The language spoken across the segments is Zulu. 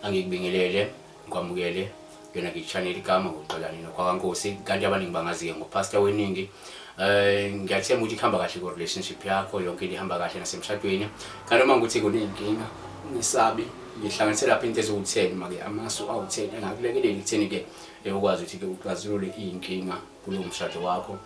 angikubingelele ngikwamukele kuyona ngichanel igama ngoxolani nokwakankosi kanti abaningi bangazi-ke ngopastor weningi um ngiyathemba ukuthi kuhamba kahle ku-relationship yakho yonke into ihamba kahle nasemshadweni kanti uma ngikuthi kuney'nkinga ngisabi ngihlanganise lapho into eziwu-ten make amasu awu-ten engakulekeleli ekutheni-ke eh, ukwazi ukuthi-ke uxazulule iy'nkinga kulo mshado wakho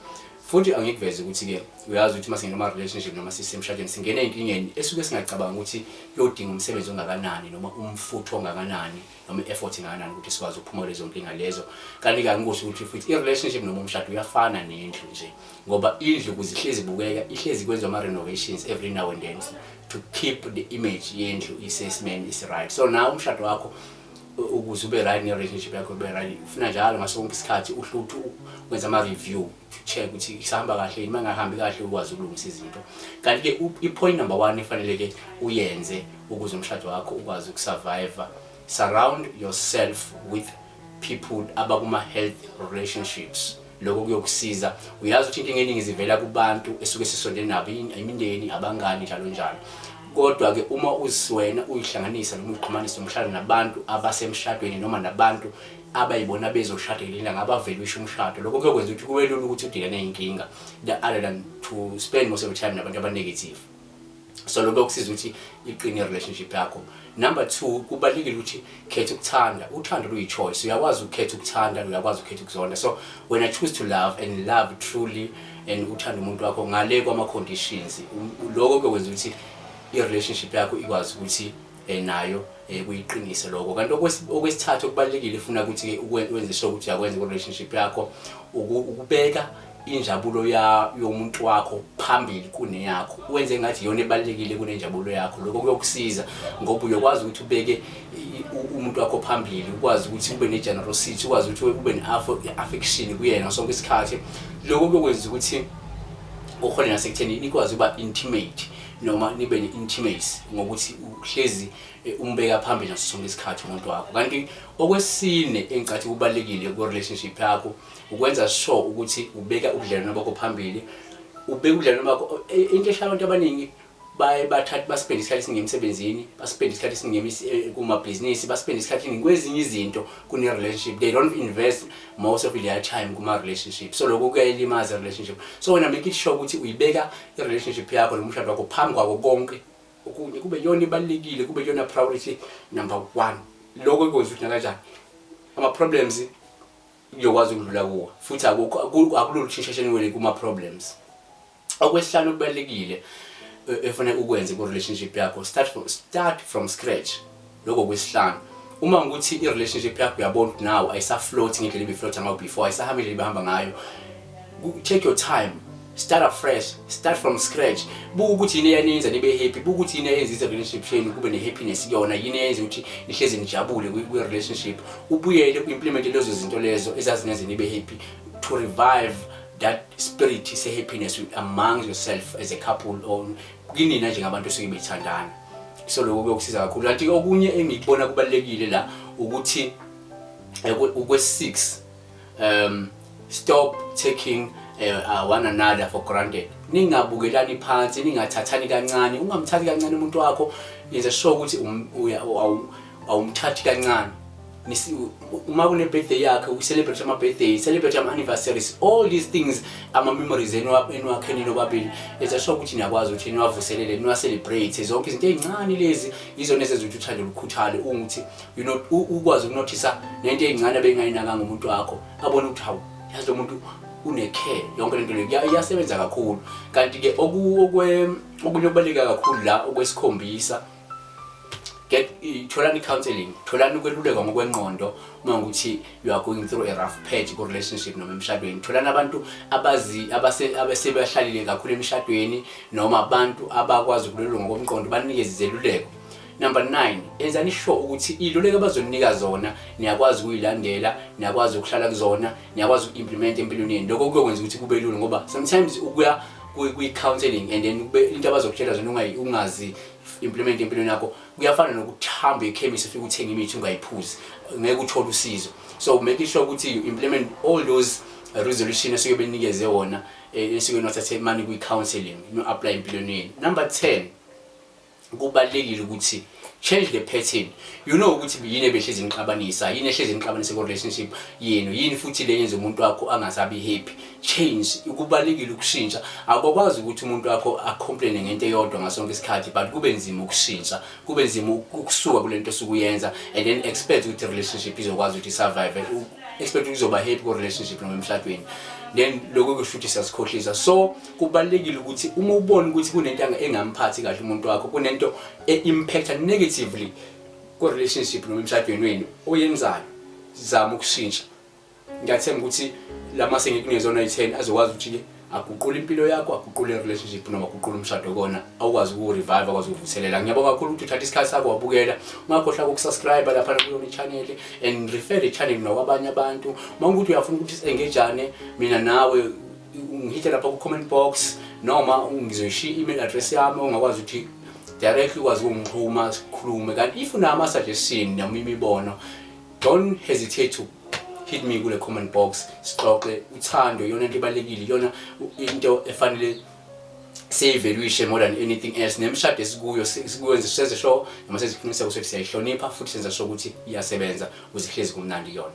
futhi angikuveze ukuthi-ke uyazi ukuthi uma singena ama-relationship noma sisemshadweni singena enkingeni esuke singacabanga ukuthi kuyodinga umsebenzi ongakanani noma umfutho ongakanani noma i-effort engakanani ukuthi sikwazi ukuphuma lezo nkinga lezo kanti kangikusho ukuthi futhi i-relationship noma umshado uyafana nendlu nje ngoba indlu kuze ihlezi ibukeka ihlezi kwenza ama-renovations every now and then to keep the image yendlu isesimeni isi-right so nawe umshado wakho ukuze ube right ne-relationship yakho ube right ufuna njalo ngaso konke isikhathi uhle uthi wenza ama-review check ukuthi isahamba kahle yini uma ingahambi kahle ukwazi ukulungisa izinto kanti-ke i-point number one efanele-ke uyenze ukuze umshado wakho ukwazi ukusurviva surround yourself with people abakuma-health relationships lokho kuyokusiza uyazi ukuthi inkinga eningi zivela kubantu esuke sisondele nabo imindeni abangani njalo njalo kodwa ke uma uziwena uyihlanganisa noma uyixhumanisa umshado nabantu abasemshadweni noma nabantu abayibona bezoshada ngelanga abavele usho umshado lokho kuyokwenza ukuthi kube lula ukuthi udilane inkinga the other than to spend most of the time nabantu aba negative so lokho kusiza ukuthi iqine relationship yakho number 2 kubalekile ukuthi khetha ukuthanda uthando luyi choice uyakwazi ukukhetha ukuthanda uyakwazi ukukhetha ukuzonda so when i choose to love and love truly and uthanda umuntu wakho ngale kwama conditions lokho kwenza ukuthi i relationship yakho ikwazi ukuthi eh, nayo eh, kuyiqinise lokho kanti okwesithathu okubalulekile ifuna ukuthi wenze sure ukuthi uyakwenza ku-relationship yakho ukubeka injabulo yomuntu wakho phambili kuneyakho wenze ngathi iyona ebalulekile kunenjabulo yakho lokho kuyokusiza ngoba uyokwazi ukuthi ubeke umuntu wakho phambili ukwazi ukuthi ube ne-generosity ukwazi ukuthi ube ne-affection kuyena sonke isikhathi lokho kuyokwenza ukuthi ukhona nasekutheni nikwazi ukuba intimate noma nibe ne-intimacy ngokuthi uhlezi eh, umbeka phambili naso sonke isikhathi umuntu wakho kanti okwesine engicathi kubalulekile ku-relationship yakho ukwenza sure ukuthi ubeka ubudlelwano bakho phambili ubeka ubudlelwano bakho eh, into eshala abantu abaningi baye bathathe basipende isikhathi esiningi emsebenzini basipende isikhathi esiningi emis- eh, kumabhizinisi basipende isikhathi esiningi kwezinye izinto kune-relationship they don't invest most of their time kuma-relationship so lokho kuyayilimaza relationship so wena make it sure ukuthi uyibeka i-relationship yakho nomshado wakho phambi kwako konke okunye kube yona ibalulekile kube yona priority number one lokho ikwenza ukuthi nakanjani ama-problems uyokwazi ukudlula kuwo futhi akulolu shinshasheni wele kuma-problems okwesihlanu okubalulekile e, efanele ukwenze ku-relationship yakho start from, start from scratch lokho kwisihlanu uma ngikuthi i-relationship yakho uyabona ukuthi now ayisaflothi ngendlela ibiflotha ngayo before ayisahambi ngendlela ibihamba ngayo take your time start afresh start from scratch buka ukuthi yini eyaninza nibe happy buka ukuthi yini eyenza i-relationship shenu kube ne-happiness kuyona yini eyenza ukuthi nihlezi nijabule kwi-relationship ubuyele u-implemente lezo zinto lezo ezazingenze nibe happy to revive that spirit se-happiness among yourself as a couple or kinina njengabantu esuke bethandana so lokho kuyokusiza kakhulu kanti okunye engikubona kubalekile la ukuthi eh, ukwe 6 um stop taking eh, uh, one another for granted ningabukelani phansi ningathathani kancane ungamthathi kancane umuntu wakho yenza sure ukuthi um, awumthathi kancane uma kune birthday yakhe u celebrate ama birthday celebrate ama anniversaries all these things ama memories eniwakheni nobabili etha sho ukuthi niyakwazi ukuthi niwavuselele niwa celebrate zonke izinto ezincane lezi izona ezenza ukuthi uthande ukukhuthale ukuthi you know ukwazi ukunothisa nento ezincane bengayinaka ngomuntu wakho abone ukuthi hawu yazi lo muntu unecare yonke lento le iyasebenza kakhulu kanti ke okunye okubaleka kakhulu la okwesikhombisa get tholani counseling tholani ukwelulekwa ngokwenqondo uma ukuthi you are going through a rough patch ku relationship noma emshadweni tholani abantu abazi abasebehlalile kakhulu emshadweni noma abantu abakwazi ukululunga ngokomqondo banikeze izeluleko number 9 enzani sure ukuthi iluleko abazoninika zona niyakwazi ukuyilandela niyakwazi ukuhlala kuzona niyakwazi uku-implement empilweni yenu lokho kuyokwenza ukuthi kube lula ngoba sometimes ukuya kwi-counseling and then kube into abazokutshela zona ungayi- ungazi implement empilweni yakho kuyafana nokuthi hambe ekhemisi ufike uthenge imithi ungayiphuzi ngeke uthole usizo so make sure ukuthi you implement all those resolution esuke benikeze wona eh, esuke nothathe mani kwi-counseling no-apply empilweni yenu number 10 kubalulekile ukuthi change the pattern you know ukuthi yini ebehlezi nixabanisa yini ehlezi nixabanisa ku relationship yenu yini futhi le yenza umuntu wakho angasabi happy change kubalekile ukushintsha akukwazi ukuthi umuntu wakho acomplaine ngento eyodwa ngasonke isikhathi but kube nzima ukushintsha kube nzima ukusuka kule nto osukuyenza and then expect ukuthi relationship izokwazi ukuthi survive expect ukuthi uzoba happy ku relationship noma emshadweni then lokho kusho ukuthi siyasikhohlisa so kubalulekile ukuthi uma ubona ukuthi kunento engamphathi kahle umuntu wakho kunento e-impacta negatively kwi-relationship noma emshadweni wenu oyenzayo zama ukushintsha ngiyathemba ukuthi la mase ngikunezona i-ten azokwazi ukuthi-ke aguqule impilo yakho aguqule relationship noma aguqule umshado kona awukwazi ukurevive akwazi ukuvuselela ngiyabonga kakhulu ukuthi uthatha isikhathi sakho wabukela ungakhohlwa ukusubscribe lapha kuyona i-channel and refer i-channel nakwabanye abantu uma ukuthi uyafuna ukuthi si-engejane mina nawe ungihithe lapha ku-comment box noma ngizoyishiya i-email address yami ongakwazi ukuthi directly ukwazi ukungixhuma sikhulume kanti if unama-suggestion noma imibono don't hesitate to hit me kule comment box sixoxe uthando iyona into ibalulekile iyona into efanele siyivaluation more than anything else nemshado esikuyo sikwenze senze sho noma seziqiniseko sokuthi siyayihlonipha futhi senza sho ukuthi iyasebenza ukuze ihlezi kumnandi iyona